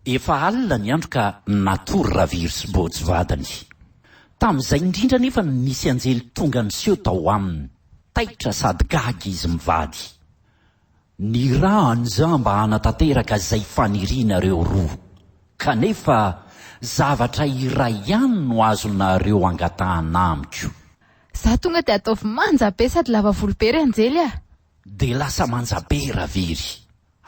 Efa alina ny andro ka natory Raviro sy Bôjy vadiny. Tamin'izay indrindra anefa no nisy anjely tonga niseho tao aminy. Taitra sady gaga izy mivady. Nirahany za mba hanatanteraka izay fanirianareo roa. Kanefa zavatra iray ihany no azonareo angatahana amiko. Za tonga dia ataovy manja be sady lava volo be ry anjely ah! Dia lasa manja be ra very.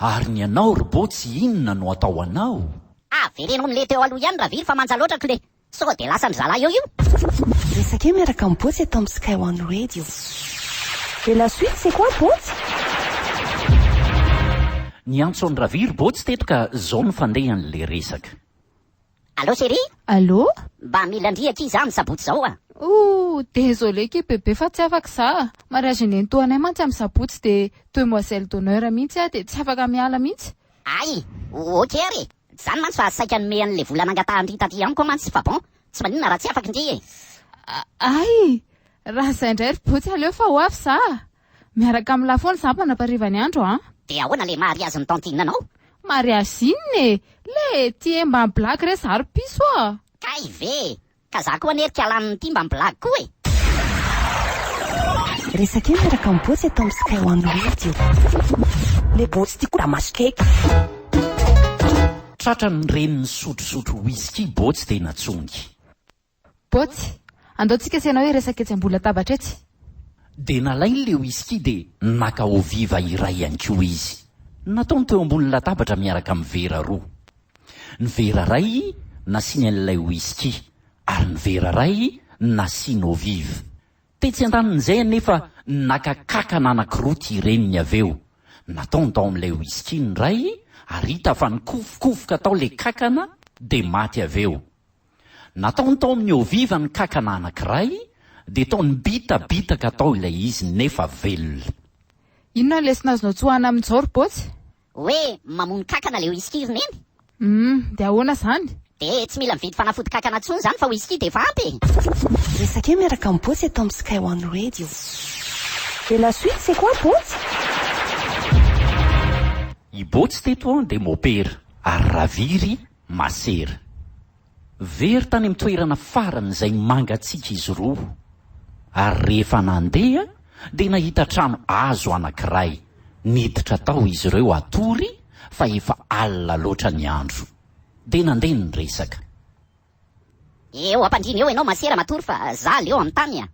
Ary ny anao ry botsy inona no atao anao? Avereno amin'le teo aloha ihany raviry fa manja loatra kle. Sao dia lasan-dry zalahy eo io? Resaka eo miaraka am Botsy eto am Sky One Radio. Et la suite c'est quoi Botsy? Niantso an'i Raviry Botsy teto ka zao ny fandehan'le resaka. Allô chérie? Allô? Mba mila an-dry akia za am sabotsy zao a! Ooh! Désolé akia bébé fa tsy afaka za! Mariage nentoanay mantsy am sabotsy de demoiselle d'honneur mihitsy ah de tsy afaka miala mihitsy! Ay! Ok ary e! Tsy zany mantsy fa saika hanome anle vola nangatahan-dry taty amiko mantsy fa bon! Tsy maninona raha tsy afaka ndry e! Ay! Raha zay ndray ry botsy aleo fa ho avy za! Miaraka amin'ny lafo ny sampana mpariva ny andro an! De ahoana le mariazin'i tantine anao? Mariage inona e? Le ty e mba blague re za ry piso a! Kay ve! Ka za koa anie ry kialaniny ty mba blague koa e! Resak'io miaraka amin'ny Botsy eto amin'ny Sky One Radio. Le Botsy ty koa maso cake. Tratran'ny reniny sotrosotro whisky Botsy dia natsongy. Botsy, andao tsika sy ianao hiresaka etsy ambolatabatra etsy. Dia nalainy ilay whisky dia naka eau viva iray ihany koa izy. Nataony teo ambony latabatra miaraka amin'ny vera roa. Ny vera iray nasiany an'ilay whisky ary ny vera iray nasiany eau vive. Tetsy an-danin'izay anefa naka kankana anankiroa ity reniny avy eo. Nataony tao amin'ilay whisky ny iray ary hita fa nikofokofoka tao ilay kankana dia maty avy eo. Nataony tao amin'ny Ao Viva ny kankana anankiray dia tao nibitabitaka tao ilay izy nefa velona. Inona ny lesona azonao tsoahina amin'izao ry Botsy? Hoe mamono kankana ilay whisky ry Neny? Humm, dia ahoana izany? Dia tsy mila mividy fanafody kankana intsony izany fa whisky dia efa ampy e! Resake miaraka amin'i Botsy eto amin'ny Sky One Radio. Et la suite c'est quoi Botsy? I Botsy teto dia mopera ary Raviry Masera. Very tany amin'ny toerana farany izay mangatsiaka izy roa, ary rehefa nandeha dia nahita trano hazo anankiray. Niditra tao izy ireo hatory fa efa alina loatra ny andro. Dia nandeha ny resaka. Eo am-pandriana eo ianao Masera matory fa za leo amin'ny tany a!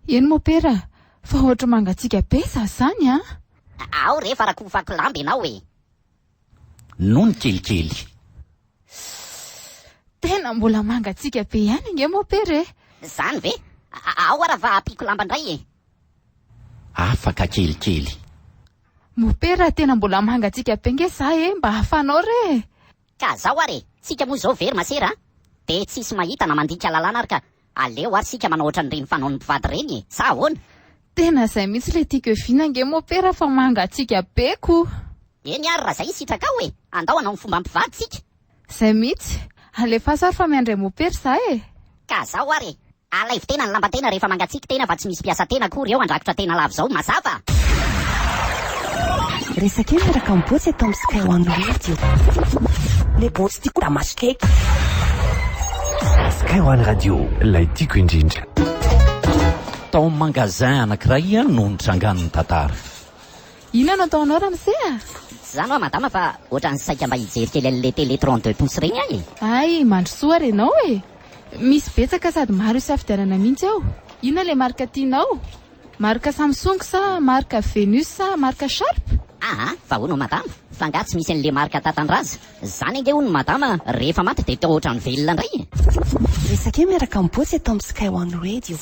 Eny Mopera a! Fa ohatry mangatsiaka be sasany an! Ao re fa rakofako lamba ianao e! nony kelikely. Sss! Tena mbola mangatsiaka be ihany ange moa Pere e! Zany ve? Ao ara va apiako lamba ndray e! Afaka kelikely. Mopera tena mbola mangatsiaka be nge za e! Mba afanao re e! Ka zao ary e! Tsika moa zao very masera a! Dia tsisy mahita na mandika lalàna ary ka! Aleo ary sika manao otrany reny fanaon'ny mpivady reny e! sa ahoana? Tena zay mihitsy le tiako e vina ange mopera fa mangatsiaka be ko! Eny ary raha zay sitrakao e! Andao hanao ny fomba mpivady tsika! Zay mihitsy! Alefaso ary fa miandry an'i mopera za e! Ka zao ary e! Alaivo tena ny lamban-tena rehefa mangatsiaka tena fa tsy misy mpiasa tena akory eo handrakotra tena lava izao! Mazava? Resaka eo miaraka amin'ny Botsy eto amin'ny Sky One Radio. Le botsy tiako da masy cake. Sky One Radio, ilay tiako indrindra. Tao amin'ny magasin anankiray no nitrangan'ny tantara. Inona no ataonao ramose a? Tsy izany hoa madama fa ohatran'ny saika mba hijery kely an'ilay télé trente deux pouces ireny aho e. Hay, mandrosoa ary ianao e! Misy betsaka sady maro isafidianana mihitsy ao. Inona ilay marika tianao? Marika Samsung sa marika Venus sa marika Sharp? Aa fa hono madama fa nga tsy misy anle marika tatandraza zany ange hono madama rehefa maty de to otrany velona ndray e. Resake miaraka am Botsy eto am Sky One Radio.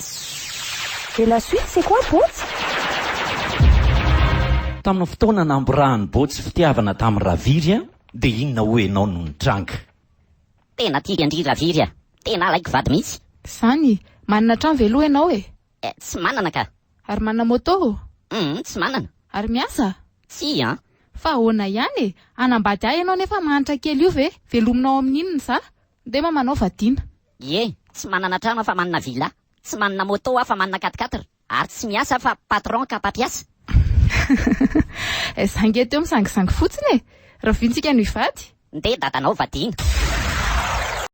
Et la suite c'est quoi Botsy? Tamin'ny fotoana namborahan'i Botsy fitiavana tamin'i Raviry a, dia inona hoy ianao no nitranga? Tena tia an-dry Raviry a! Tena alaiko vady mihitsy! Zany! Manana trano ve aloha ianao e? Eh, tsy manana ka. Ary manana moto? Humm, tsy manana. Ary miasa? Tsia an. Fa ahoana ihany e? Hanambady ahy ianao nefa mahantra kely io ve? Velominao amin'inona za? Nde mama anao vadiana. Ie, tsy manana trano aho fa manana villa, tsy manana moto aho fa manana quat-quatre, ary tsy miasa aho fa patron ka mpampiasa. Eh, za nge teo misangisangy fotsiny e! Rahoviantsika no hivady? Nde dadanao vadiana.